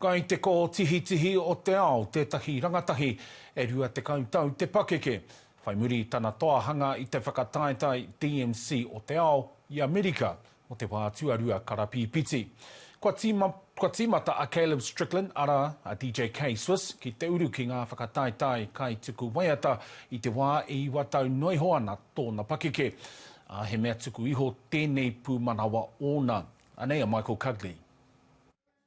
Kai te kōtihitihi o te ao tētahi rangatahi e 20 tau te pakeke. Whai muri i tana toa hanga i te whakataetae DMC o te ao i Amerika mō te wā tuarua karapīpiti, kua tīma, kua tīmata a Caleb Strickland, arā, a DJ K-Swiss, ki te uru ki ngā whakataetae kaituku waiata i te wā e iwa tau noa iho ana tōna pakeke, ā, he mea tuku iho tēnei pūmanawa ōna. Anei a Michael Cugley.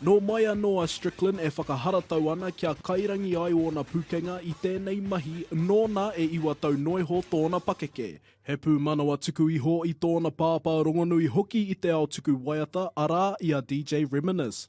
Nō mai anō a Strickland e whakaharatau ana kia kairangi ai ōna pukenga i tēnei mahi nōna e iwa tau noiho tōna pakeke. He pūmanawa tuku iho i tōna pāpā rongonui hoki i te ao tuku waiata, arā, i a DJ Reminis.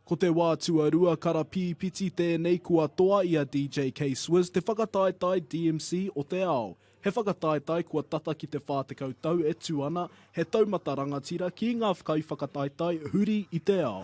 Ko te wā tuarua karapīpiti tēnei kua toa i a DJ K-Swizz te whakataetae DMC o te Ao. He whakataetae kua tata ki te 40 tau e tū ana, he taumata rangatira ki ngā kaiwhakataetae huri i te ao.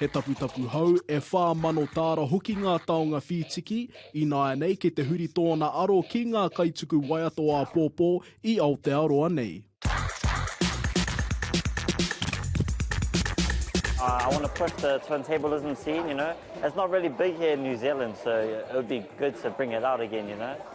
He taputapu hou, e whā mano tāra hoki ngā taonga whītiki, ināianei kei te huri tōna aro ki ngā kaituku waiato āpōpō i Aotearoa nei. I want to push the turntablism scene, you know. It's not really big here in New Zealand, so it would be good to bring it out again, you know.